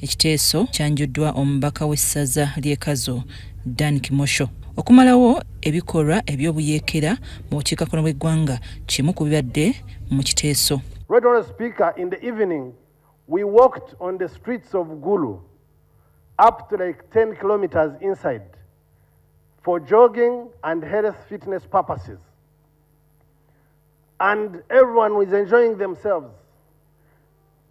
Ekiteeso kyanjuddwa omubaka w'essaza ly'e Kazo Dan Kimosho okumalawo ebikolwa eby'obuyeekera mu bukiikakkono bw'eggwanga kimu ku bibadde mu kiteeso. We walked on the streets of Gulu up to like 10 kilometers inside for jogging and health fitness purposes. And everyone was enjoying themselves.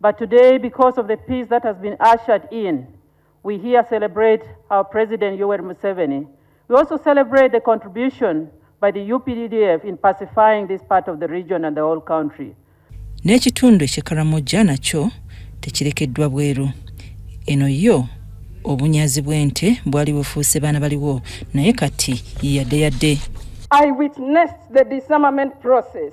But today, because of the peace that has been ushered in, we here celebrate our President Yoweri Museveni. We also celebrate the contribution by the UPDF in pacifying this part of the region and the whole country. N'ekitundu eky'e Karamoja nakyo tekirekeddwa bweru. Eno yo obunyazi bw'ente bwali bufuuse baana baliwo naye kati yadde yadde. I witnessed the disarmament process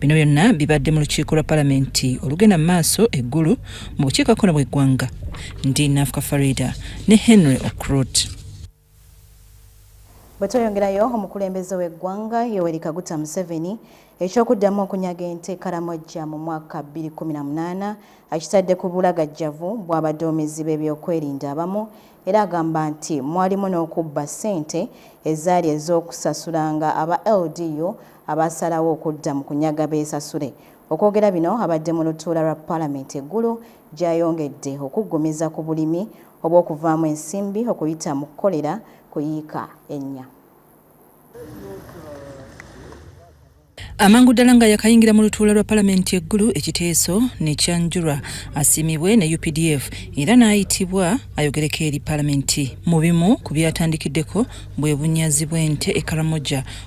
Bino byonna bibadde mu lukiiko lwa palamenti olugenda mu maaso e Gulu mu bukiikakkono bw'eggwanga. Ndi Nafuka Farida ne Henry Okrut. Bwe tweyongerayo omukulembeze w'eggwanga Yoweri Kaguta Museveni eky'okuddamu okunyaga ente Karamojja mu mwaka 2018 akitadde ku bulagajjavu bw'abaduumizi b'ebyokwerinda abamu era agamba nti mwalimu n'okubba ssente ezaali ez'okusasulanga aba LDU abaasalawo okudda mu kunyaga beesasule. Okwogera bino abadde mu lutuula lwa Palamenti e Gulu gy'ayongedde okuggumiza ku bulimi obw'okuvaamu ensimbi okuyita mu kukolera ku yiika ennya. amangu ddala nga yakayingira mu lutuula lwa palamenti eggulu ekiteeso nekyanjulwa asiimibwe ne updf era n'ayitibwa ayogereko eri palamenti mu bimu ku byatandikiddeko bwe bunyazi bw'ente e karamoja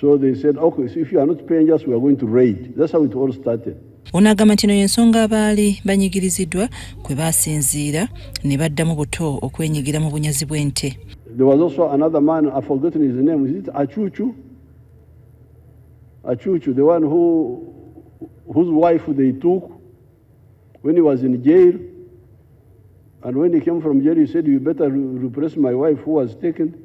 So they said, okay, so if you are not paying us, we are going to raid. That's how it all started. ono agamba nti eno y'ensonga abaali banyigiriziddwa kwe baasinziira ne baddamu buto okwenyigira mu bunyazi bw'ente And when he came from jail, he said, You better repress my wife who was taken.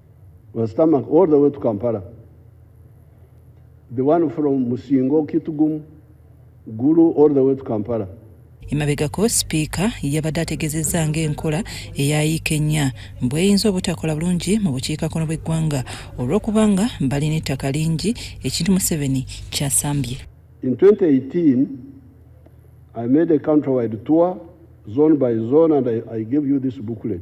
Rastamak all the way to Kampala. The one from Musingo, Kitgum, Gulu all the way to Kampala. emabegako sipiika yabadde ategezezza ngaenkola eyayiika ennya bweyinza obutakola bulungi mu bukiikakkono bw'eggwanga olw'okubanga balina ettaka lingi ekintu museveni kyasambye In 2018, I made a countrywide tour, zone by zone, and I, I gave you this booklet.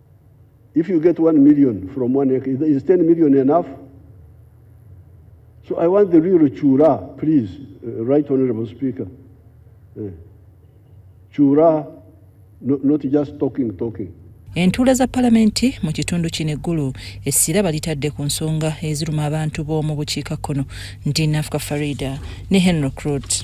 If you get 1 million from one acre, is 10 million enough? So I want the real Chura, please, uh, Right Honorable Speaker. Uh, Chura, no, not just talking, talking. entuula za palamenti mu kitundu kino eggulu essira balitadde ku nsonga eziruma abantu b'omu bukiikakkono ndi nafuka farida ne henry crot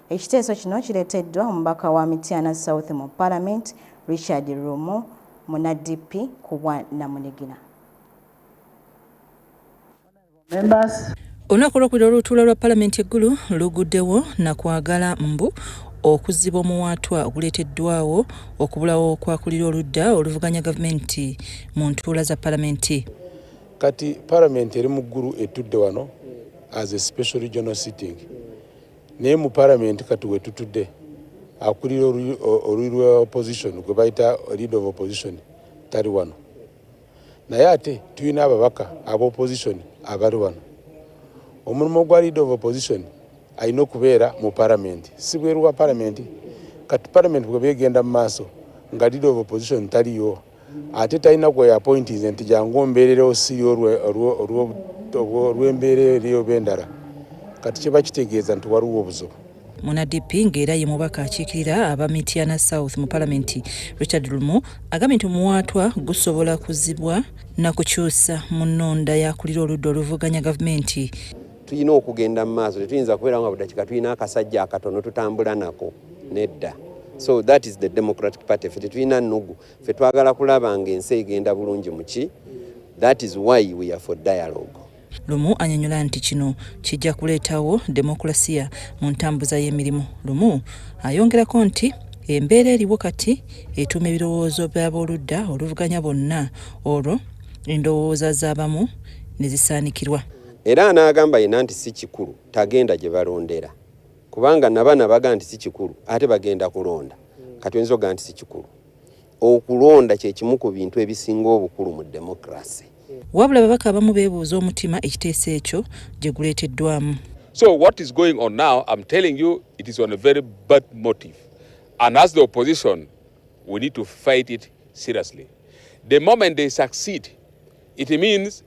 Ekiteeso kino kireteddwa omubaka wa Mityana South mu Palamenti Richard Lumu muna DP ku bwa namunigina. Olunaku olwokubiri olutuula lwa palamenti eggulu luguddewo nakwagala mbu okuziba omuwaatwa oguleeteddwawo okubulawo kwakulira oludda oluvuganya gavumenti mu ntuula za palamenti kati palamenti eri mu ggulu etudde wano as a special regional sitting naye mu palamenti kati wetutudde akulira oluli lwa opposition gwe bayita lead of opposition tali wano naye ate tulina ababaka aba opposition abali wano omulimu gwa lead of opposition alina okubeera mu palamenti si bweru wa palamenti kati palamenti bwebegenda mu maaso nga lead of opposition taliyo ate talina gwe yapointinze nti jangu ombeerera osiri olw'embeera eriyo bendala kati kiba kitegeeza nti waliwo obuzibu munadp ng'era ye mubaka akiikirira aba mityana south mu palamenti richard lumu agambye nti omuwaatwa gusobola kuzibwa na kukyusa mu nnonda yakulira oludda oluvuganya gavumenti tulina okugenda mu maaso tetuyinza kubeerawo nga budakiika tulina akasajja akatono tutambula nako nedda so that is the democratic party fe tetulina nugu fe twagala kulaba nga ensi egenda bulungi muki that is why we are for dialogue lumu anyonyola nti kino kijja kuleetawo demokulasiya mu ntambuza y'emirimu lumu ayongerako nti embeera eriwo kati etuuma ebirowoozo by'abooludda oluvuganya bonna olwo endowooza z'abamu ne zisaanikirwa era anaagamba yena nti si kikulu tagenda gye balondera kubanga nabana baga nti si kikulu ate bagenda kulonda kati oyinza oga nti si kikulu okulonda kyekimu ku bintu ebisinga obukulu mu demokrasi wabula babaka abamu beebuuza omutima ekiteeso ekyo gye guleeteddwamu so what is going on now im telling you it is on a very bad motive and as the opposition we need to fight it seriously the moment they succeed it means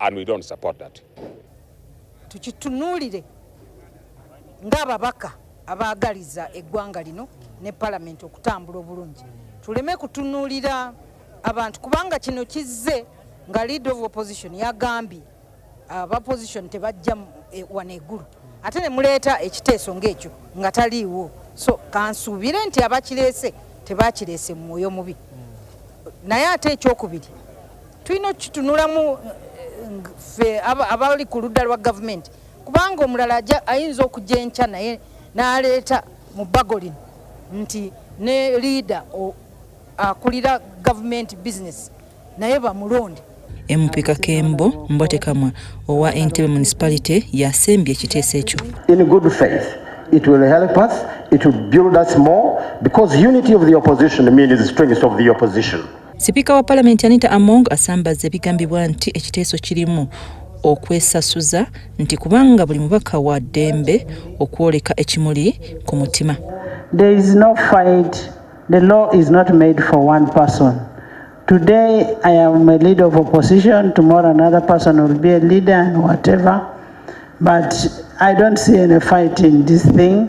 and we don't support that. Tukitunulire ng'ababaka abaagaliza eggwanga lino ne palamenti okutambula obulungi tuleme kutunuulira abantu kubanga kino kizze nga lead of opposition yagambye abaposition tebajja e, wano egulu ate ne muleeta ekiteeso ng'ekyo nga taliiwo so kansuubire nti abakireese tebakireese mu mwoyo mubi naye ate ekyokubiri tulina okukitunulamu eh, fe abali ku ludda lwa gavumenti kubanga omulala ayinza okujja enkya naye n'aleeta mu bbago lino nti ne liida akulira gavumenti bizinesi naye bamulonde MP Kakembo Mbotekamwa owa Entebbe Municipality yasembye ekiteeso ekyo. In good faith, it will help us, it will build us more because unity of the opposition means the strength of the opposition. Sipiika wa palamenti Anita Among asambazza ebigambibwa nti ekiteeso kirimu okwesasuza nti kubanga buli mubaka wa ddembe okwoleka ekimuli ku mutima There is no fight. The law is not made for one person. Today I am a leader of opposition, tomorrow another person will be a leader and whatever. But I don't see any fight in this thing.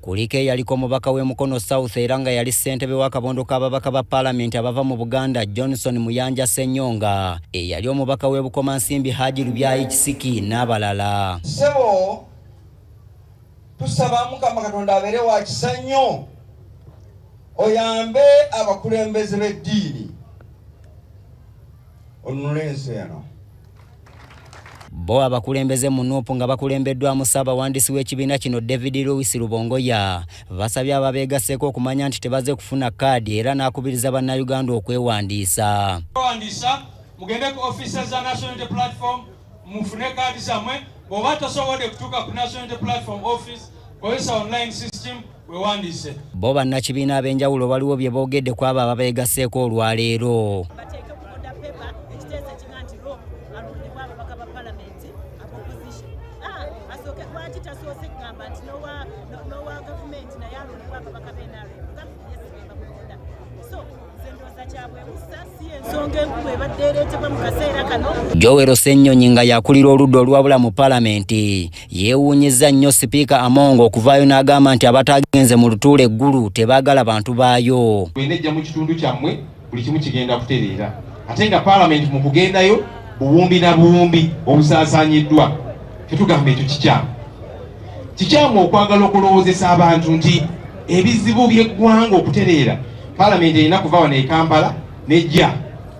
Kuliko eyaliko omubaka w'e Mukono South era nga yali ssentebe w'akabondo k'ababaka ba Palamenti abava mu Buganda Johnson Muyanja Ssenyonga, eyali omubaka w'e Bukomansimbi Haji Lubyayi Kisiki n'abalala. Ssebo tusaba Mukama Katonda abeere wa kisa nnyo oyambe abakulembeze b'eddiini onunule ensi eno. Bo abakulembeze mu nup nga bakulembeddwamu ssaabawandiisi w'ekibiina kino David Lewis Lubongoya basabye ababeegasseeko okumanya nti tebaze kufuna kaadi era n'akubiriza bannayuganda okwewandiisa mugende ku offices za National Unity Platform mufune kaadi zammwe bw'oba tosobodde kutuuka ku National Unity Platform office kozesa online system wewandiise bo bannakibiina ab'enjawulo baliwo bye boogedde ku abo ababeegasseeko olwaleero Joel Ssenyonyi nga yakulira oludda olwabula mu palamenti yeewuunyizza nnyo sipiika Among okuvaayo n'agamba nti abataagenze mu lutuula eggulu tebaagala bantu baayo. Bwenejja mu kitundu kyammwe buli kimu kigenda kutereera ate nga palamenti mu kugendayo buwumbi na buwumbi obusaasaanyiddwa tetugamba ekyo kikyamu kikyamu okwagala okulowoozesa abantu nti ebizibu by'eggwanga okutereera Palamenti erina kuva wano e Kampala n'ejja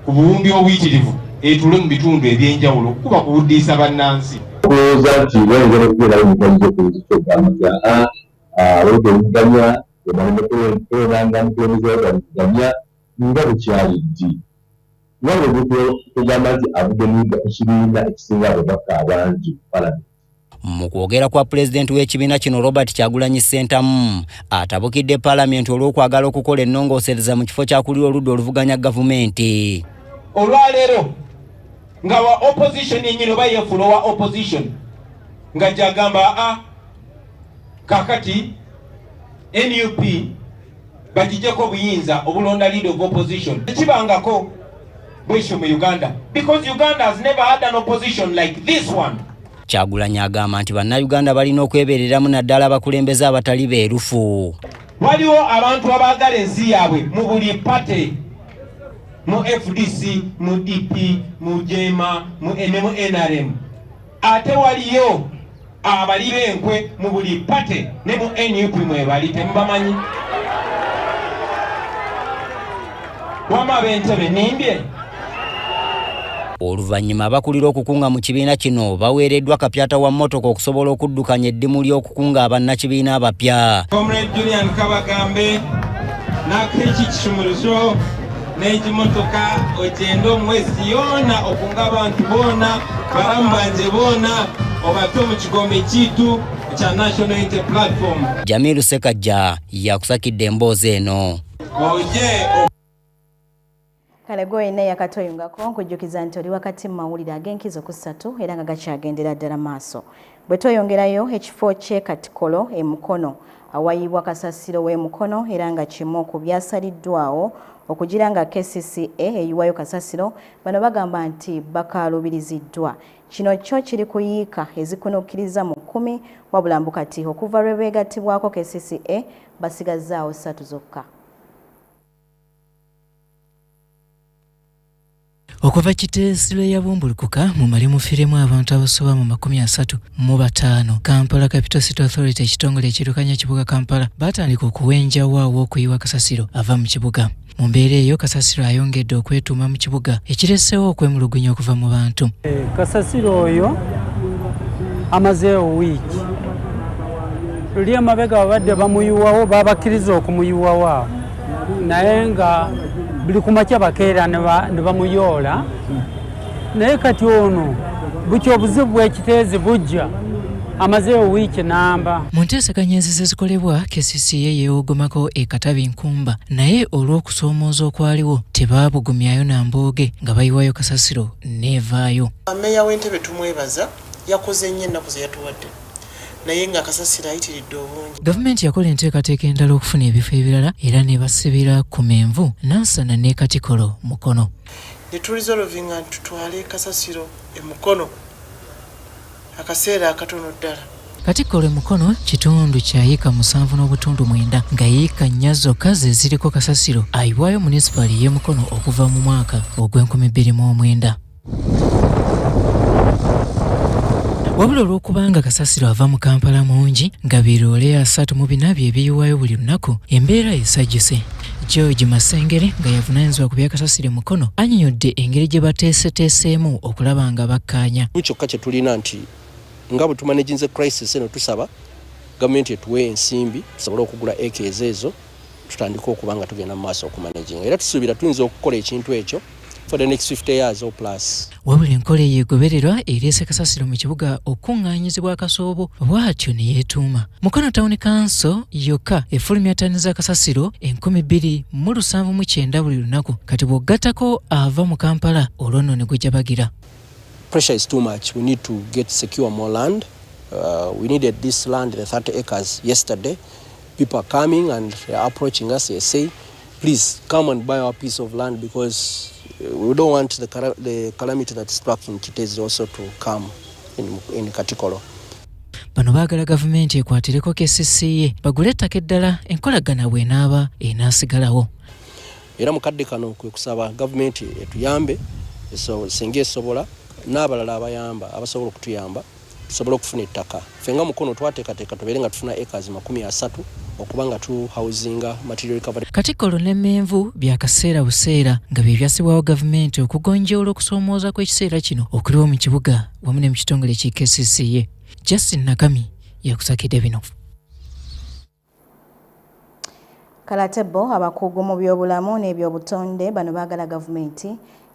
ku buwumbi obuyitirivu etuule mu bitundu eby'enjawulo okukuba ku buddiisa bannansi. Kulowooza nti wayongera okubeerawo emiganyulo ku nzito gamaga awedde omuganya ebalinakulonanga mukulembeze wagani kuganya nga bukyali ddi wabwe kugamba nti avudde mu ekibiina ekisinga ababaka abangi mu palamenti. Mu kwogera kwa pulezidenti w'ekibiina kino Robert Kyagulanyi Ssentamu atabukidde palamenti olw'okwagala okukola ennongoosereza mu kifo kyakulira oludda oluvuganya gavumenti. Olwaleero nga wa opposition enyini oba yefuula owa opposition nga gyagamba a kakati nup bagijeko obuyinza obulonda leader of opposition tekibangako bwekyo mu uganda because uganda has never had an opposition like this one kyagulanyi agamba nti bannayuganda balina okwebereramu naddala abakulembeze abatali beerufu waliwo abantu abaagala ensi yaabwe mu buli pate mu fdc mu dp mu jema mu nrm Ate waliyo abali benkwe mu buli pate ne mu nup mwebali temubamanyi wama abentebe nimbye Oluvannyuma abakulira okukunga mu kibiina kino baweereddwa kapyata wa mmotoka okusobola okuddukanya eddimu ly'okukunga abannakibiina abapya. Comrade Julian Kabagambe n'Akeeki Kisumuluzo n'ekimotoka okyenda omwezi yoona okunga abantu boona balamu banje boona obato mu kigombe kyitu ekya national unity platform jamiru sekajja yakusakidde emboozi eno oje kale gwoyina yakatoyungako nkujjukiza nti oli wakati mu mawulire ag'enkizo ku ssatu era nga gakyagendera ddala maaso Bwe tweyongerayo ekifo ky'e Katikolo e Mukono awayiibwa kasasiro w'e Mukono era nga kimu ku byasaliddwaawo okugira nga kcca eyiwayo kasasiro bano bagamba nti bakaalubiriziddwa kino kyo kiri ku yiika ezikunukkiriza mu kkumi wabula mbu kati okuva lwe beegattibwako kcca basigazzaawo ssatu zokka okuva kiteesi lwe yabumbulukuka mu mali mufiremu abantu abasoba mu makumi asatu mu bataano kampala capital city authority ekitongole ekirukanya kibuga kampala baatandika okuwenjawo aw'okuyiwa kasasiro ava mu kibuga mu mbeera eyo kasasiro ayongedde okwetuuma mu kibuga ekireseewo okwemulugunya okuva mu bantu eh, kasasiro oyo amazeewo wiiki luli emabega babadde bamuyiwawo babakkiriza okumuyiwawo awo naye nga buli kumakya bakeera ne bamuyoola naye kati ono bukya obuzibu bwekiteezi bujja amazeewo wiiki namba mu nteeseganya ezize zikolebwa kcca yeewogomako e katabi nkumba naye olw'okusoomooza okwaliwo tebaabugumyayo na mbooge nga bayiwayo kasasiro neevaayo meeya w'entebe tumwebaza yakoze nnyo ennaku ze yatuwadde naye nga kasasiro ayitiridde obungi. Gavumenti yakola enteekateeka endala okufuna ebifo ebirala era nebasibira ku menvu nansana ne katikolo mukono netulizolovinga ntutwale kasasiro emukono akaseera akatono ddala katikkolo emukono kitundu kya yiika musanvu n'obutundu mwenda nga yiika nnya zokka ze ziriko kasasiro ayiwayo munisipaali y'emukono okuva mu mwaka ogw'enkumi bbiri mu omwenda wabula olw'okubanga kasasiro ava mu kampala mungi nga biroole asatu mu bina bye biyiwayo buli lunaku embeera esajuse george masengere nga yavunanyizibwa ku byakasasire mukono anyonyodde engeri gye bateeseteeseemu okulaba nga bakkaanya kyokka kye tulina nti nga bwe tumanaginze crisis eno tusaba gavumenti etuwe ensimbi tusobole okugula eka ezo ezo tutandika okuba nga tugenda mu maaso okumanejinga era tusuubira tuyinza okukola ekintu ekyo for the next 50 years or plus wabula enkola eyo egobererwa ereese kasasiro mu kibuga okukuŋŋaanyizibwa akasoobo bw'atyo ne yeetuuma mukono tawuni kanso yokka efulumya tani za kasasiro enkumi bbiri mu lusanvu mu kyenda buli lunaku kati bw'ogattako ava mu kampala olwo nno ne gujabagira pressure is too much we need to get secure more land uh, we needed this land the 30 acres yesterday People are coming and they are approaching us. They say, please come and buy our piece of land because uh, we don't want the, the calamity that struck in Kitezi also to come in, in Katikolo. bano baagala gavumenti ekwatireko kesisiye bagule ettaka eddala enkolagana bwenaaba enaasigalawo era mu kadde kano kwe kusaba gavumenti etuyambe singa esobola n'abalala abayamba abasobola okutuyamba tusobole okufuna ettaka ffe nga mukono twateekateeka tubeere nga tufuna acres makumi asatu okuba nga tu housinga material recovery katikkolo n'emmenvu bya kaseera buseera nga bye byassibwawo gavumenti okugonjoola okusoomooza kw'ekiseera kino okuliwo mu kibuga wamu ne mu kitongole ki kcca justin nakami yakusakidde bino Kale ate bo abakugu mu byobulamu n'ebyobutonde bano baagala gavumenti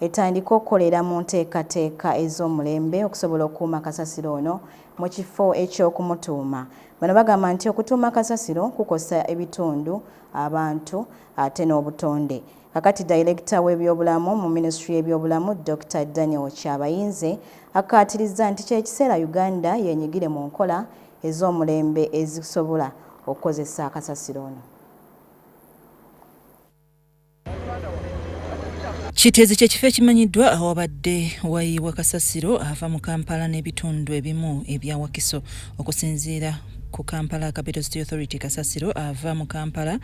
etandike okukolera mu nteekateeka ez'omulembe okusobola okukuuma kasasiro ono mu kifo eky'okumutuuma. Bano bagamba nti okutuuma kasasiro kukosa ebitundu, abantu ate n'obutonde. Kakati dayirekita w'ebyobulamu mu minisitule y'ebyobulamu Dokita Daniel Kyabayinze akkaatirizza nti ky'ekiseera Uganda yenyigire mu nkola ez'omulembe ezisobola okukozesa kasasiro ono. Kiteezi kye kifo ekimanyiddwa awabadde wayiibwa kasasiro ava mu Kampala n'ebitundu ebimu ebya Wakiso okusinziira ku Kampala Capital City Authority kasasiro ava mu Kampala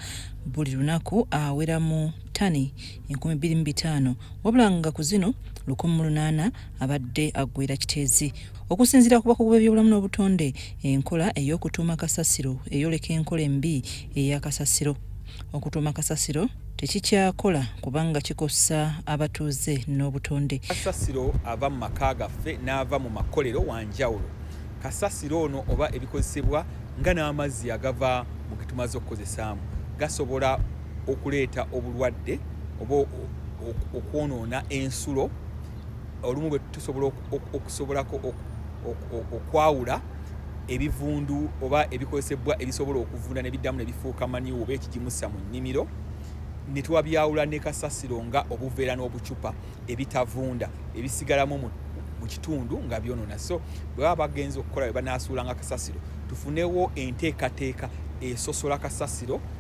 buli lunaku awera mu ttani enkumi bbiri mu bitaano wabula nga ku zino lukumi mu lunaana abadde aggwera Kiteezi. Okusinziira ku bakugu b'ebyobulamu n'obutonde, enkola ey'okutuuma kasasiro eyoleka enkola embi eya kasasiro. Okutuuma kasasiro tekikyakola kubanga kikosa abatuuze n'obutonde. Kasasiro ava mu maka gaffe n'ava mu makolero wa njawulo. Kasasiro ono oba ebikozesebwa nga n'amazzi agava mu ge tumaze okukozesaamu gasobola okuleeta obulwadde oba okwonoona ensulo. olumu bwe tusobola okusobolako okwawula ebivundu oba ebikozesebwa ebisobola okuvunda nebiddamu nebifuuka maniwo oba ekigimusa mu nnimiro netwabyawula ne kasasiro nga obuveera n'obucupa ebitavunda ebisigalamu mu mu kitundu nga byonona so bwe baba bagenza okukola bwe banaasuulanga kasasiro tufunewo enteekateeka esosola kasasiro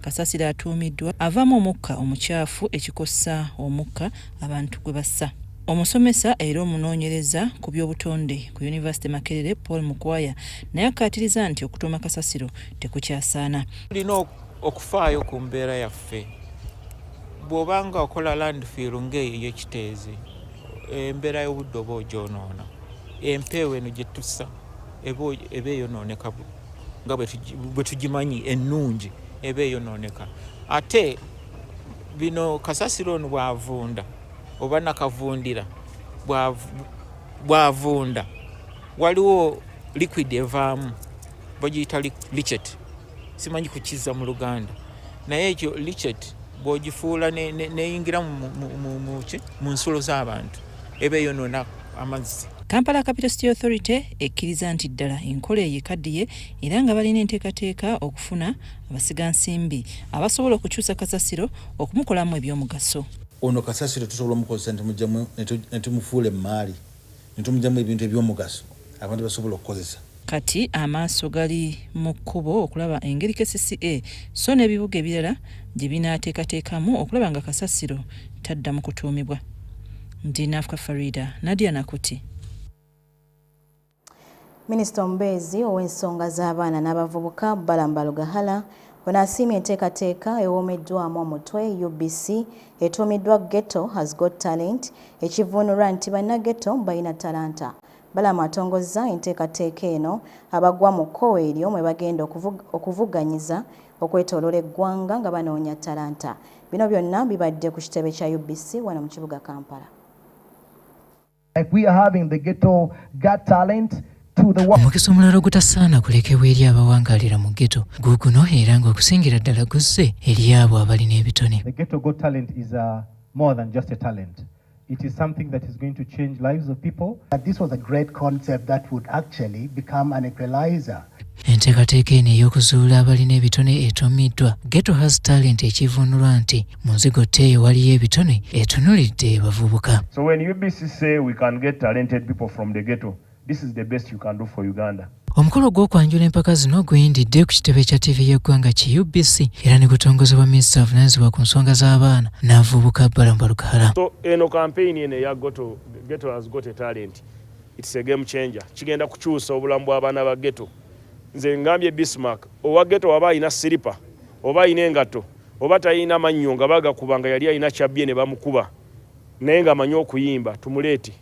Kasasiro atuumiddwa avamu omukka omucaafu ekikosa omukka abantu gwe bassa. Omusomesa era omunoonyereza ku by'obutonde ku yunivasite Makerere Paul Mukwaya naye akkaatiriza nti okutuuma kasasiro tekukyasaana. Tulina okufaayo ku mbeera yaffe. Bw'oba nga okola landfill ng'eyo ey'ekiteezi, embeera y'obudde oba ogyonoona. Empeewo eno gye tussa eba eyonooneka nga bwe tugimanyi ennungi eba eyonooneka ate bino kasasiro ono bwavunda oba nakavundira bwavunda waliwo liquid evaamu bagiyita lichet simanyi kukiza mu luganda naye ekyo lichet bwogifuula neyingira mu nsulo z'abantu eba eyonona amazzi Kampala Capital City Authority ekkiriza nti ddala enkola eyo ekaddiye era nga balina enteekateeka okufuna abasiga nsimbi abasobola okukyusa kasasiro okumukolamu ebyomugaso. Ono kasasiro tusobola omukozesa ne tumufuula emmaali ne tumugyamu ebintu ebyomugaso. abantu basobola okukozesa. Kati amaaso gali mu kkubo okulaba engeri kcca so n'ebibuga ebirala gye binaateekateekamu okulaba nga kasasiro tadda mu kutuumibwa. Ndi Nafka Farida, Nadia Nakuti. Minisita omubeezi ow'ensonga z'abaana n'abavubuka Balamba Lugahala ono asiimye enteekateeka ewomeddwamu omutwe UBC etuumiddwa Ghetto has got talent ekivvuunulwa nti bannagetto balina talanta Balaam atongozza enteekateeka eno abagwa mu kkowe eryo mwe bagenda okuvuganyiza okwetoloola eggwanga nga banoonya talanta. Bino byonna bibadde ku kitebe kya UBC wano mu kibuga Kampala. If we are having the ghetto got talent omukisa omulala ogutasaana kulekebwa eri abawangalira mu geto guguno era nga okusingira ddala guzze eri abo abalina ebitone It is something that is going to change lives of people. But this was a great concept that would actually become an equalizer. enteekateeka eno ey'okuzuula abalina ebitone etuumiddwa geto has talent ekivunulwa nti mu nzigo tteeyo waliyo ebitone etunulidde bavubuka so when ubc say we can get talented people from the ghetto This is the best you can do for Uganda. Omukolo gw'okwanjula empaka zino guyindidde ku kitebe kya ttivi y'eggwanga ki UBC era ne gutongozebwa minisita avunaanyizibwa ku nsonga z'abaana n'avubuka Balamu Balukahala. So eno kampeyini eno eya Ghetto, Ghetto has got a talent. It's a game changer. Kigenda kukyusa obulamu bw'abaana ba ghetto. Nze ngambye Bismarck, owa ghetto waba alina siripa oba alina engatto oba talina mannyo nga bagakuba nga yali alina kyabbye ne bamukuba naye ng'amanyi okuyimba tumuleete.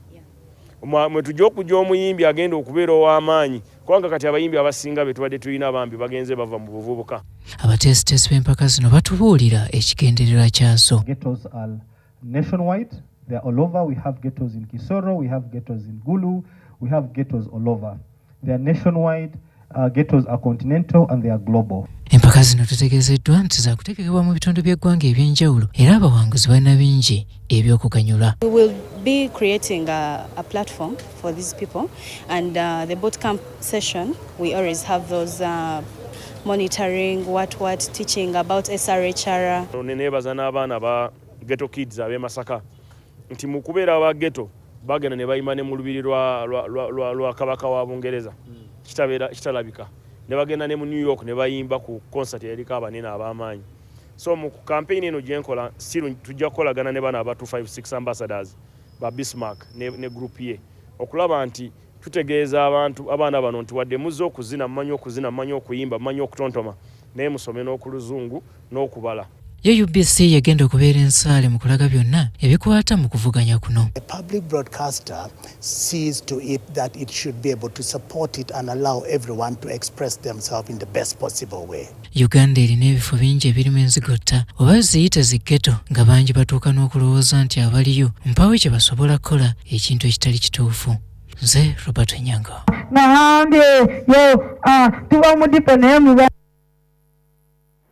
mwe tujja okujja omuyimbi agenda okubeera ow'amaanyi kubanga kati abayimbi abasinga be tubadde tulina bambi bagenze bava mu buvubuka abateesiteesi b'empaka zino batubuulira ekigendererwa kyazo They are nationwide, uh, ghettos are continental and they are global. Empaka zino tutegezeddwa nti zakutegekebwa mu bitundu by'eggwanga eby'enjawulo era abawanguzi balina bingi eby'okuganyulwa. We will be creating a, a platform for these people and uh, the boot camp session we always have those uh, monitoring what what teaching about SRHR. Nenebaza n'abaana ba Ghetto Kids ab'e Masaka nti mu kubeera aba geto bagenda ne bayima ne mu lubiri lwa, lwa, lwa, lwa, lwa kabaka wa bungereza mm. kitabeera kitalabika ne bagenda ne mu new york ne bayimba ku concert yaliko abanene ab'amaanyi so mu kampeyini eno gye nkola si tujja kukolagana ne bana aba 256 ambassadors ba bismark ne, ne group ye okulaba nti Tutegeeza abantu abaana bano nti wadde muzze okuzina, mumanyi okuzina, mumanyi okuyimba, mumanyi okutontoma naye musome n'okuluzungu n'okubala. Ye UBC yegenda okubeera ensaale mu kulaga byonna ebikwata mu kuvuganya kuno. The public broadcaster sees to it that it should be able to support it and allow everyone to express themselves in the best possible way. uganda erina ebifo bingi ebirimu enzigotta oba ziyite ziggeto nga bangi batuuka n'okulowooza nti abaliyo mpawo kye basobola kukola ekintu ekitali kituufu nze robert nyango nahambye yo ah, tuba mudipo naye muba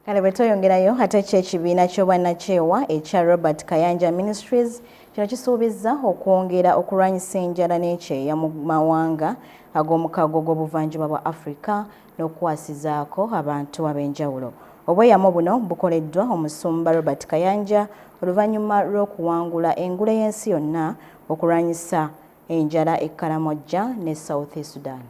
kale bwe tweyongerayo ate kyo ekibiina ky'obwannakyewa ekya robert kayanja ministries kino kisuubizza okwongera okulwanyisa enjala n'ekyeya mu mawanga ag'omukago gw'obuvanjuba bwa africa n'okukwasizaako abantu ab'enjawulo. Obweyamo buno bukoleddwa omusumba Robert Kayanja oluvannyuma lw'okuwangula engule y'ensi yonna okulwanyisa enjala e Karamojja ne South Sudan.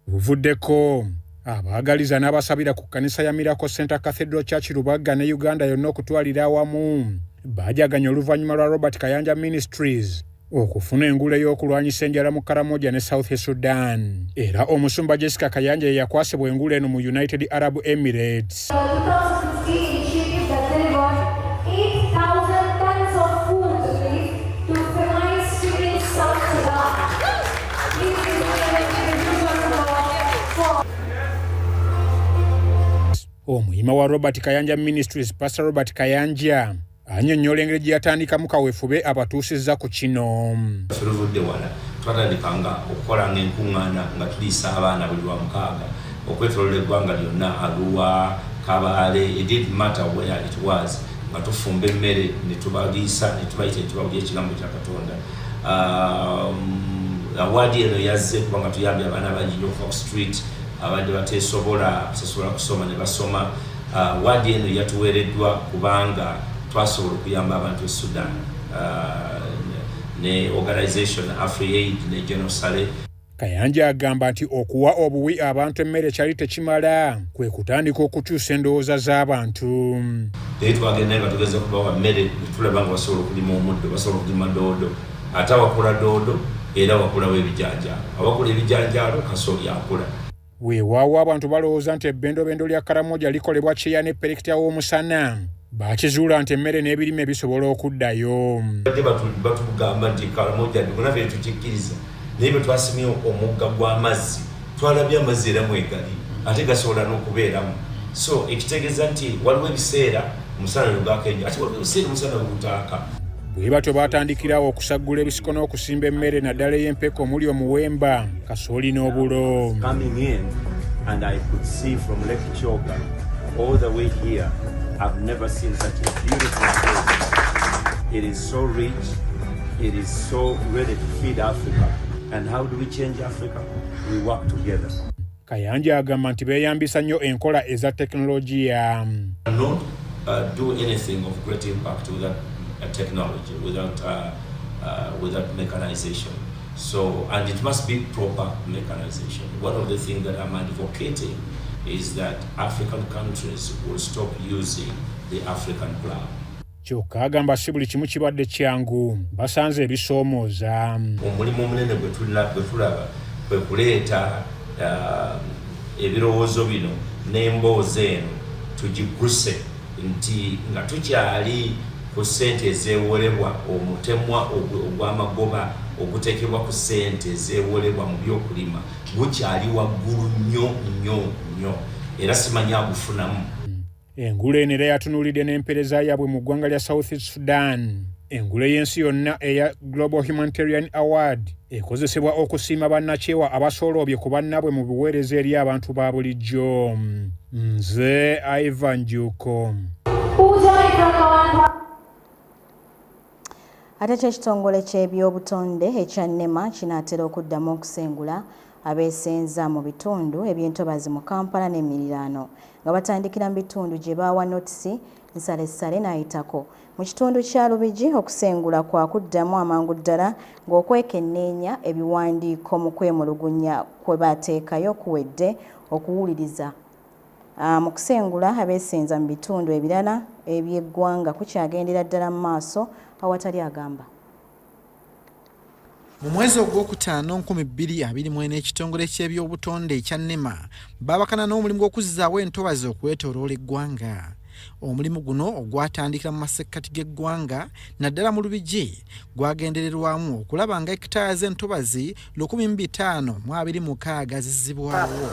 Buvuddeko abaagaliza n'abasabira ku kkanisa ya Miracle Center Cathedral Church Lubagga ne Uganda yonna okutwalira awamu baajaganya oluvannyuma lwa Robert Kayanja Ministries okufuna engule y'okulwanyisa enjala mu Karamoja ne South Sudan era omusumba Jessica Kayanja ye yakwasibwa engule eno mu United Arab Emirates. omuyima wa Robert Kayanja Ministries Pastor Robert Kayanja anyonyola engeri gye yatandikamu kawefube abatuusizza ku kino tuluvudde wala twatandika nga okukola nga enkuŋŋaana nga tuliisa abaana buli lwa mukaaga okwetolola eggwanga lyonna aluwa kabaale edid matter where it was nga tufumba emmere netubaliisa netubayita ekibabu lyekigambo kya katonda um, awaadi eno yazze kubanga tuyambye abaana bangi nyo okuva ku street abadde bateesobola kusasobola kusoma ne basoma Uh, waadi eno yatuweereddwa kubanga twasobola okuyamba abantu e Sudan uh, ne organisation Afriaid ne Genosale. Kayanja agamba nti okuwa obuwi abantu emmere kyali tekimala kwe kutandika okukyusa endowooza z'abantu. Naye twagenda nga tugeza kubawa mmere ne tulaba nga basobola okulima omuddo, basobola okulima doodo, ate awakula doodo era wakulawo ebijanjaalo, awakula ebijanjaalo kasooli akula. Weewaawo abantu balowooza nti ebbendobendo lya Karamoja likolebwa kyeya ne perekita w'omusana. Baakizuula nti emmere n'ebirime bisobola okuddayo. Badde batugamba nti Karamoja ndikona fee tukikkiriza naye bwe twasimye omugga gw'amazzi twalabye amazzi era mwegali ate gasobola n'okubeeramu so ekitegeeza nti waliwo ebiseera Musana lugaka enyo ati waliwo ebiseera omusana gutaaka bwe batyo baatandikirawo okusaggula ebisiko n'okusimba emmere naddala ey'empeke omuli omuwemba kasooli n'obulo It is so rich. It is so ready to feed Africa. And how do we change Africa? We work together. Kayanja agamba nti beeyambisa nnyo enkola eza tekinologiya. So, and it must be proper mechanization. One of the things that I'm advocating is that African countries will stop using the African plow. kyokka agamba si buli kimu kibadde kyangu basanze ebisoomooza omulimu omunene gwe tulaba kwe kuleeta uh, ebirowoozo bino n'emboozi eno tugigguse nti nga tukyali ku ssente ezeewolebwa omutemwa ogw'amagoba oguteekebwa ku ssente ezeewolebwa mu by'okulima gukyali waggulu nnyo nnyo nnyo era simanya agufunamu Engule eno era yatunuulidde n'empeereza yaabwe mu ggwanga lya South Sudan. Engule y'ensi yonna eya Global Humanitarian Award ekozesebwa okusiima bannakyewa abasooloobye ku bannaabwe mu biweereza eri abantu ba bulijjo. Nze Ivan Juko. Ate kyo ekitongole ky'ebyobutonde ekya nema kinaatera okuddamu okusengula abeesenza mu bitundu eby'entobazi mu Kampala n'emiriraano nga batandikira mu bitundu gye baawa notisi nsalessale n'ayitako mu kitundu kya Lubigi okusengula kwa kuddamu amangu ddala ng'okwekenneenya ebiwandiiko mu kwemulugunya kwe baateekayo kuwedde okuwuliriza Mu kusengula abeesenza mu bitundu ebirala eby'eggwanga kukyagendera ddala mu maaso awatali agamba. Mu mwezi ogwokutaano nkumi bbiri abiri mwena ekitongole ky'ebyobutonde ekya nema baabakana n'omulimu gw'okuzzaawo entobazi okwetoloola eggwanga omulimu guno ogwatandikira mu masekkati g'eggwanga naddala mu lubigi gwagendererwamu okulaba nga ekitaaya z'entobazi lukumi mu bitaano mu abiri mukaaga zizibwawo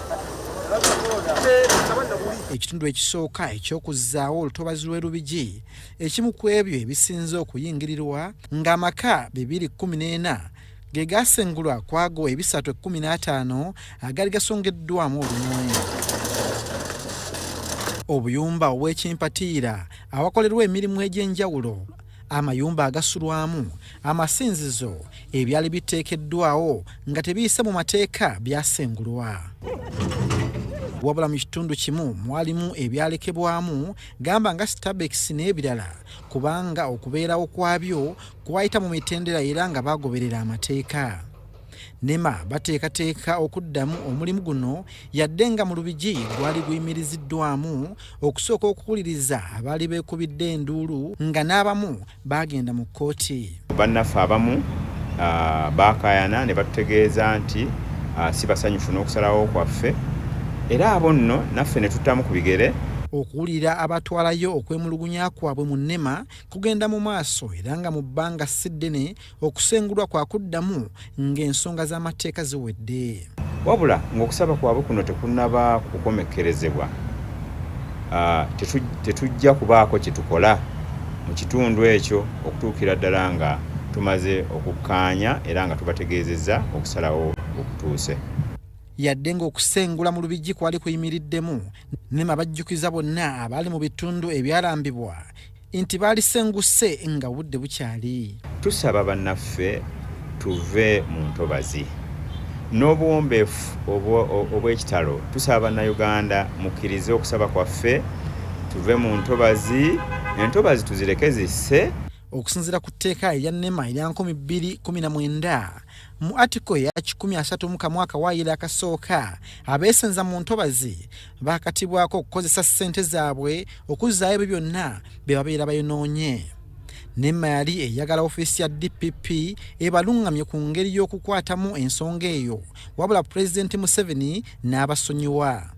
ekitundu ekisooka eky'okuzzaawo olutobazi lw'e lubigi ekimu ku ebyo ebisinze okuyingirirwa ng'amaka bibiri kkumi n'ena ge gaasengulwa kwago ebisatu ekkumi n'ataano agaali gasongeddwamu olunoonya obuyumba obw'ekimpatiira awakolerwa emirimu egy'enjawulo amayumba agasulwamu amasinzizo ebyali biteekeddwawo nga tebiyise mu mateeka byasengulwa wabula mu kitundu kimu mwalimu ebyalekebwamu gamba nga stabex n'ebirala kubanga okubeerawo kwabyo kwayita mu mitendera era nga bagoberera amateeka nema bateekateeka okuddamu omulimu guno yadde nga mu lubigi gwali guyimiriziddwamu okusooka okuwuliriza abaali beekubidde enduulu nga n'abamu baagenda mu kkooti bannaffe abamu ah, baakayana ne batutegeeza nti ah, si basanyufu n'okusalawo kwaffe era abo nno naffe ne tuttamu ku bigere okuwulira abatwalayo okwemulugunya kwabwe mu nema kugenda mu maaso era nga mu bbanga si ddene okusengulwa kwa kuddamu ng'ensonga z'amateeka ziwedde wabula ng'okusaba kwabwe kuno tekunaba kukomekkerezebwa ah, tetujja kubaako kye tukola mu kitundu ekyo okutuukira ddala nga tumaze okukkaanya era nga tubategeezezza okusalawo okutuuse yadde ng'okusengula mu lubijji kwali kuyimiriddemu nema bajjukiza bonna abaali mu bitundu ebyalambibwa nti baalisenguse nga budde bukyali. Tusaba bannaffe tuve mu ntobazi n'obuwombeefu obw'ekitalo. Tusaba Bannayuganda mukkirize okusaba kwaffe tuve mu ntobazi, entobazi tuzireke zisse. Okusinzira ku tteeka erya nema erya nkumi bbiri kumi na mwenda mu atiko eya kikumi asatu mu kamu akawaayiro akasooka, abeesenza mu ntobazi baakatibwako okukozesa ssente zaabwe okuzzaayo ebyo byonna bye babeera bayonoonye nema yali eyagala ofiisi ya dpp ebaluŋŋamye ku ngeri y'okukwatamu ensonga eyo wabula pulezidenti museveni n'abasonyiwa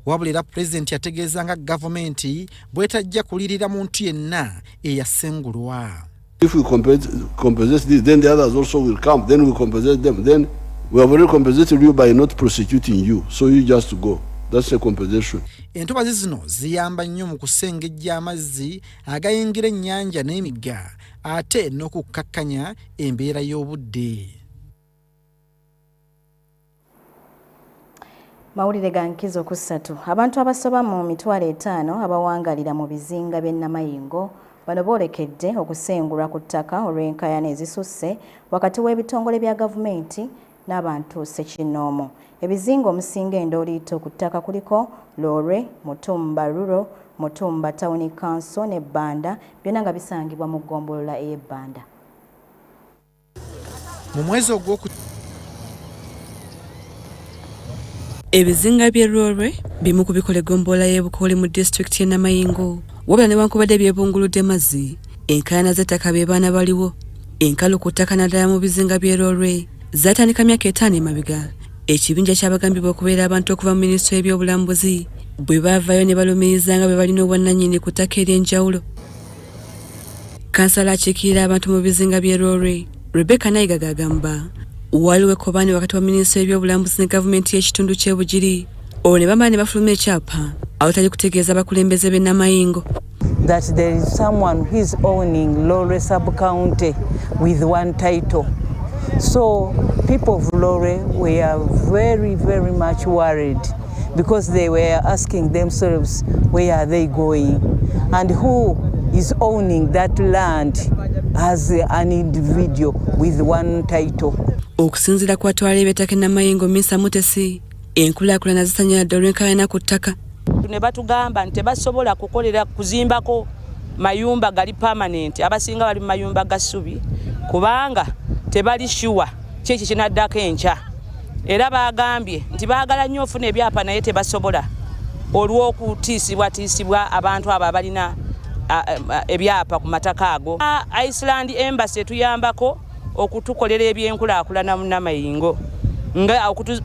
wabula era pulezidenti yategeeza nga gavumenti bwetajja kulirira muntu yenna eyasengulwa If we compensate this, then the others also will come. Then we compensate them. Then we have already compensated you by not prosecuting you. So you just go. That's a compensation. Entobazi zino ziyamba nnyo mu kusengejja amazzi agayingira ennyanja n'emigga ate n'okukkakkanya embeera y'obudde. mawulire ga nkizo ku ssatu abantu abasoba mu mitwalo etaano abawangalira mu bizinga by'e namayingo bano boolekedde okusengulwa ku ttaka olw'enkaayana ezisusse wakati w'ebitongole bya gavumenti n'abantu sekinnoomu ebizinga omusinga endooliito ku ttaka kuliko loore mutumba ruro mutumba tawuni kanso ne bbanda byonna nga bisangibwa mu ggombolola ey'ebbanda mu mwezi ogwoku ebizinga by'e lwolwe bimu ku bikola eggombolola y'e bukooli mu disitulikiti y'e namayingo wabula newankubadde byebunguludde mazzi enkaayana z'ettaka be baana baliwo enkalu ku ttaka naddala mu bizinga by'e lwolwe zaatandika myaka etaano emabega ekibinja kyabagambibwa okubeera abantu okuva mu minisitule y'ebyobulambuzi bwe baavaayo ne balumiriza nga bwe balina obwannanyini ku ttaka ery'enjawulo kansala akiikirira abantu mu bizinga by'e rore rebecca nayigaga agamba waliwo ekkobaane wakati wa minisitule y'ebyobulambuzi ne gavumenti y'ekitundu ky'e bugiri olwo ne bamala ne bafuluma ekyapa awatali kutegeeza abakulembeze b'e namayingo that there is someone who is owning lore subcounty with one title so people of lore we are very very much worried because they were asking themselves where are they going and who is owning that land as an individual with one title okusinzira kwa twala ebyetake namayengo minsa mutesi enkulakulana zisanyaladde olwenkayana ku ttaka ne batugamba nti tebasobola kukolera kuzimbako mayumba gali permanent abasinga bali mu mayumba ga ssubi kubanga tebali shuwa kiki kinaddako enkya era baagambye nti baagala nnyo ofuna ebyapa naye tebasobola olw'okutiisibwatiisibwa abantu abo abalina ebyapa ku mataka ago iceland embassy etuyambako okutukolera ebyenkulaakulana mu namayingo nga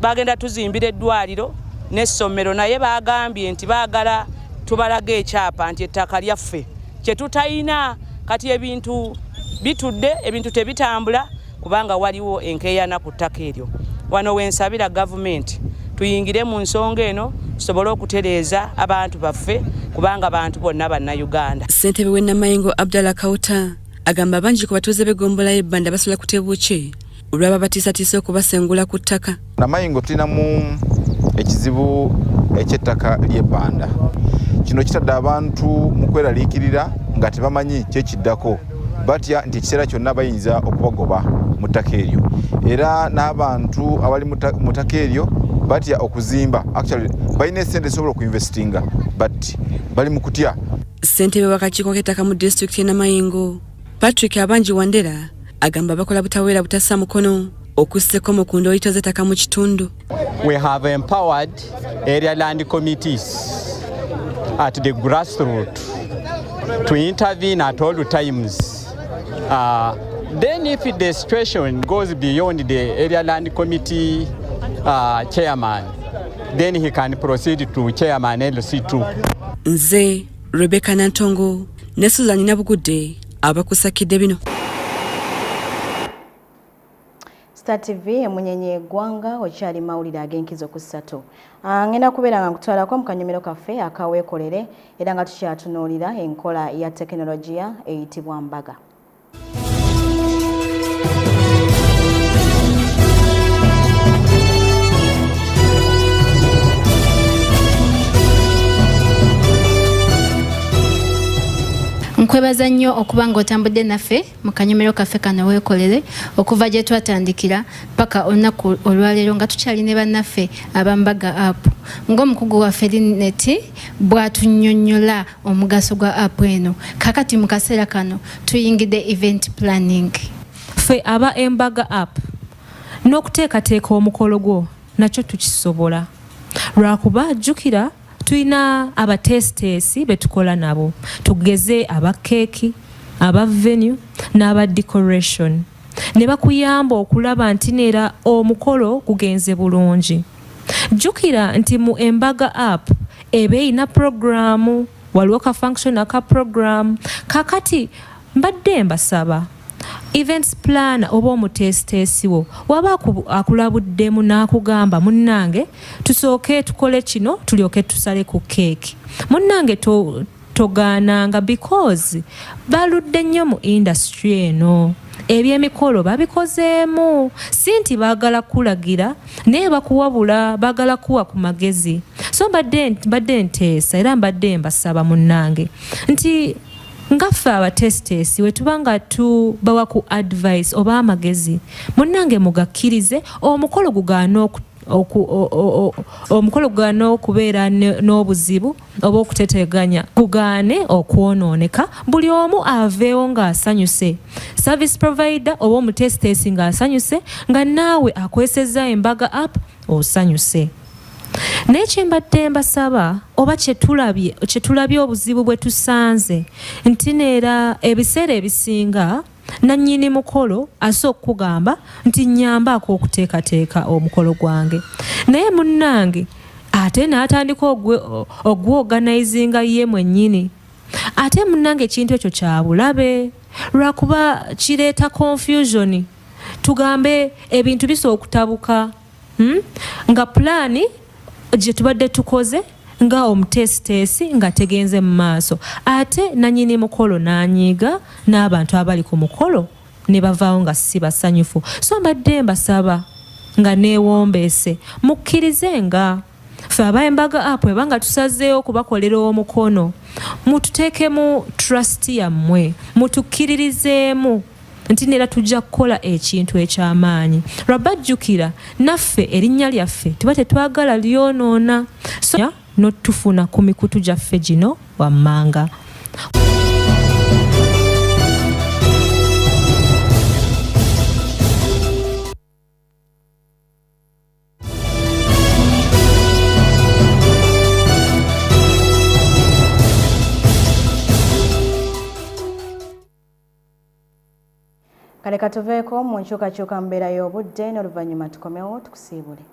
bagenda tuzimbira eddwaliro n'essomero naye baagambye nti baagala tubalaga ekyapa nti ettaka lyaffe kye tutalina kati ebintu bitudde ebintu tebitambula kubanga waliwo enkeeyana ku ttaka eryo wano wensabira gavumenti tuyingire mu nsonga eno tusobole okutereeza abantu baffe kubanga bantu bonna bannayuganda ssentebe w'ennamayengo abdalla kauta agamba bangi ku batuuze b'eggombolayo ebbanda basula ku tebuukye olwaba batiisatiisa okubasengula ku ttaka namayingo tulinamu ekizibu ekyettaka ly'ebbanda kino kitadde abantu mu kweraliikirira nga tebamanyi kyekiddako batya nti ekiseera kyonna bayinza okubagoba mu ttaka eryo era n'abantu abali mu ttaka eryo batya okuzimba actually balina esente esobola okuinvestinga but bali mu kutya ssentebe wakakiiko k'ettaka mu disitulikiti enamayingo patrick abangi wandera agamba bakola butaweera butassa mukono okuseko mu ku ndoyito z'ettaka mu kitundu we have empowered area land committees at the grassroots to intervene at all times uh, then if the situation goes beyond the area land committee uh, chairman then he can proceed to chairman lc2 nze rebecca nantongo ne suzani nabugudde abakusakidde bino Star TV emunyenye egwanga okyali mawulire ag'enkizo ku ssatu ah, ngenda kubeera nga nkutwalako mu kanyomero kaffe akaweekolere era nga tukyatunuulira enkola ya tekinologiya eyitibwa mbaga nkwebaza nnyo okuba nga otambudde naffe mu kanyomero kaffe kano weekolere okuva gye twatandikira paka olunaku olwaleero nga tukyali ne bannaffe abambaga app ng'omukugu waffe lineti bw'atunyonnyola omugaso gwa app eno kakati mu kaseera kano tuyingidde event planning ffe aba embaga app n'okuteekateeka omukolo gwo nakyo tukisobola lwakuba jjukira tulina abateesiteesi be tukola nabo tugeze aba keeki aba venue n'aba decoration ne bakuyamba okulaba nti neera omukolo gugenze bulungi jjukira nti mu embaga app eba erina puroguramu waliwo ka function aka puroguramu kakati Mbadde mbasaba events planner oba omuteesiteesi wo waba akulabuddemu n'akugamba munnange tusooke tukole kino tulyoke tusale ku keeki munnange togaananga because baludde nnyo mu indasitry eno ebyemikolo babikozeemu si nti baagala kukulagira naye bakuwabula baagala kuwa ku magezi so mbadde nteesa era mbadde mbasaba munnange nti nga ffe abateesiteesi bwe tuba nga tubawa ku advice oba amagezi munnange mugakkirize omukolo gugaana oku omukolo gugane okubeera n'obuzibu oba okuteteganya gugaane okwonooneka buli omu aveewo ng'asanyuse service provider oba omutesiteesi ng'asanyuse nga naawe akwesezza embaga app osanyuse naye kyembadde mbasaba oba kyetulabye kyetulabye obuzibu bwe tusanze nti neera ebiseera ebisinga nannyini mukolo ase okukugamba nti nyambaako okuteekateeka omukolo gwange naye munnange ate n'atandika ogwoganayizinga ye mwennyini ate munnange ekintu ekyo kyabulabe lwakuba kireeta confusioni tugambe ebintu bisa okutabuka hmm? nga pulaani gye tubadde tukoze nga omuteesiteesi nga tegenze mu maaso ate nanyini mukolo nanyiiga n'abantu abali ku mukolo ne bavaawo nga si basanyufu so mbadde mbasaba nga neewombeese mukkirize nga fe abaembaga app ebanga tusazeewo okubakolera omukono mututeekemu trust yammwe mutukkiririzeemu nti neera tujja kukola ekintu eky'amaanyi rabba jjukira naffe erinnya lyaffe tuba tetwagala lyonoona so notufuna ku mikutu gyaffe gino wammanga kale katuveeko mu nkyukakyuka mbeera y'obudde n'oluvannyuma tukomewo tukusiibule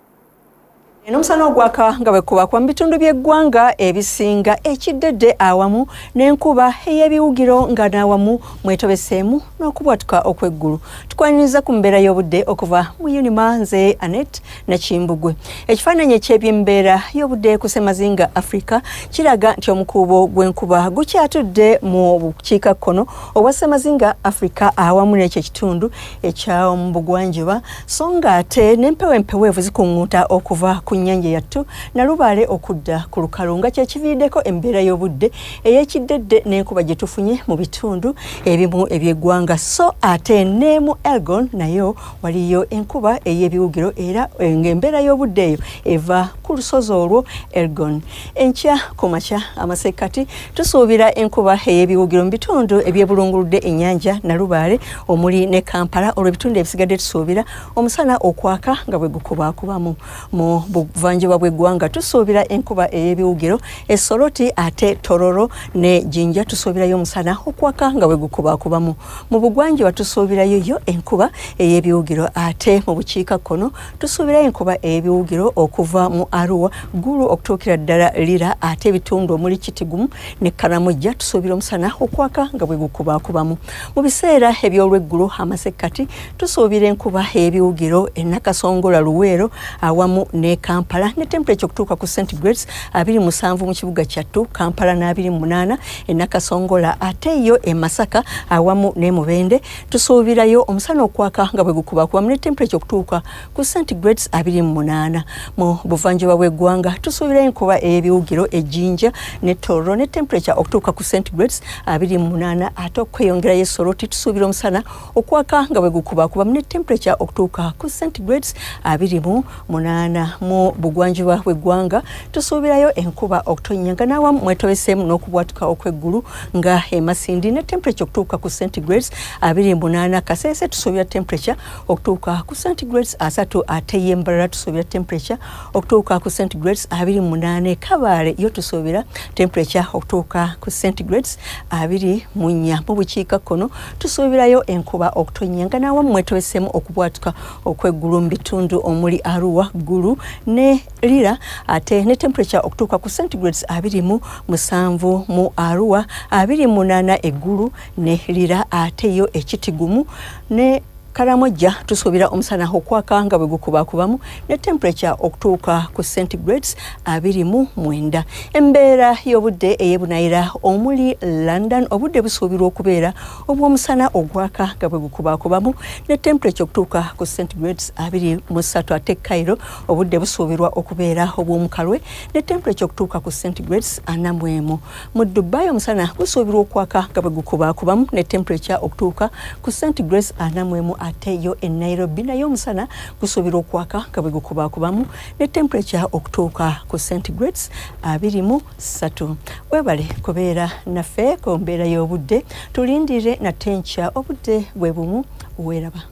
n'omusana ogwaka nga bwekubakwa mu bitundu by'eggwanga ebisinga ekiddedde awamu n'enkuba ey'ebiwugiro nga n'awamu mwetobeseemu n'okubwatuka okw'eggulu tukwaniriza ku mbeera y'obudde okuva mu unima nze anet Nakimbugwe. Ekifaananyi eky'ebyembeera y'obudde ku ssemazinga Afrika kiraga nti omukuubo gw'enkuba gukyatudde mu bukiika kkono obwa ssemazinga Afrika awamu n'ekyo ekitundu ekyamu bugwanjuba so nga ate n'empewo empeweevu zikuŋŋuuta okuva ku nnyanja yattu nalubaale okudda ku lukalu nga kyekiviiriddeko embeera y'obudde ey'ekiddedde n'enkuba gye tufunye mu bitundu ebimu eby'eggwanga so ate ne mu Elgon nayo waliyo enkuba ey'ebiwugiro era eh, ng'embeera y'obudde eyo eva ku lusozi olwo elgon enkya ku makya amasekkati tusuubira enkuba ey'ebiwugiro mu bitundu ebyebulunguludde ennyanja nalubaale omuli ne kampala olwo ebitundu ebisigadde tusuubira omusana okwaka nga bwe gukubaakubamu mu buvanjuba bw'eggwanga tusuubira enkuba ey'ebiwugiro esoloti ate tororo ne jinja tusuubirayo omusana okwaka nga bwe gukubaakubamu mu bugwanjuba tusuubirayo yo enkuba ey'ebiwugiro ate mu bukiika kkono tusuubirayo enkuba ey'ebiwugiro okuva mu aruwa gulu okutuukira ddala lira ate ebitundu omuli kitigumu ne karamujja tusuubira omusana okwaka nga bwe gukubakubamu mu biseera eby'olweggulo amasekkati tusuubira enkuba ey'ebiwugiro enakasongola luweero awamu ne kampala ne temperature okutuuka ku centigrades abiri musanvu mu kibuga kyattu kampala n'abiri mu munaana e Nakasongola ate yo e Masaka awamu ne Mubende tusuubirayo omusana okwaka nga bwe gukuba kuba mune temperature okutuuka ku centigrades abiri mu munaana mu buvanjuba bw'eggwanga tusuubirayo enkuba ey'ebiwugiro ejjinja ne Tororo ne temperature okutuuka ku centigrades abiri mu munaana ate okweyongerayo e Soroti tusuubira omusana okwaka nga bwe gukubakuba mu ne temperature okutuuka ku centigrades abiri mu munaana mu bugwanjuba bw'eggwanga tusuubirayo enkuba okutonnya nga n'awamu mwetobeseemu n'okubwatuka okw'eggulu nga emasindi ne temperature okutuuka ku centigrades abiri mu munaana kaseese tusuubira temperature okutuuka ku centigrades asatu ate ye mbalala tusuubira temperature okutuuka ku centigrades abiri mu munaana ekabaale yo tusuubira temperature okutuuka ku centigrades abiri mu nnya mu bukiikakkono tusuubirayo enkuba okutonnya nga nawamu mwetobesemu okubwatuka okweggulu mu bitundu omuli arua ggulu ne lira ate ne temperature okutuuka ku centigrades abiri mu musanvu mu arua abiri munaana eggulu ne lira ate yo ekitigumu ne Karamojja tusuubira omusana okwaka nga bwe gukubakubamu ne temperature okutuuka ku centigrades abiri mu mwenda. Embeera y'obudde ey'ebunaayira omuli London obudde busuubirwa okubeera obw'omusana ogwaka nga bwe gukubakubamu ne temperature okutuuka ku centigrades abiri mu ssatu ate Cairo obudde busuubirwa okubeera obw'omukalwe ne temperature okutuuka ku centigrades ana mu emu. mu dubai omusana gusuubirwa okwaka nga bwe gukubaakubamu ne temperature okutuuka ku centigrades ana mu emu ate yo e nairobi naye omusana gusuubirwa okwaka nga bwe gukubaakubamu ne temperature okutuuka ku centigrades abiri mu ssatu webale kubeera naffe ku mbeera y'obudde tulindirire nate nkya obudde bwe bumu weeraba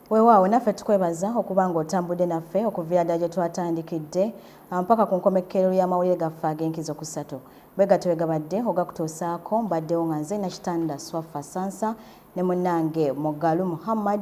wewaawo naffe tukwebaza okuba nga otambudde naffe okuviirada gye twatandikidde ah, mpaka ku nkomekkero y'amawulire gaffe ag'enkizo kusatu bwegatyo wegabadde ogakutuusaako mbaddewo nga nze nakitanda swaffa sansa ne munnange mugalu muhammad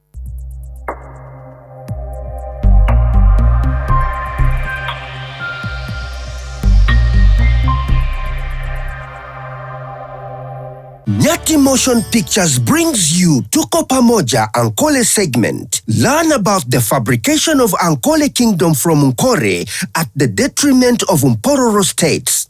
Nyati Motion Pictures brings you Tuko Pamoja Ankole segment. Learn about the fabrication of Ankole Kingdom from Nkore at the detriment of Mpororo states.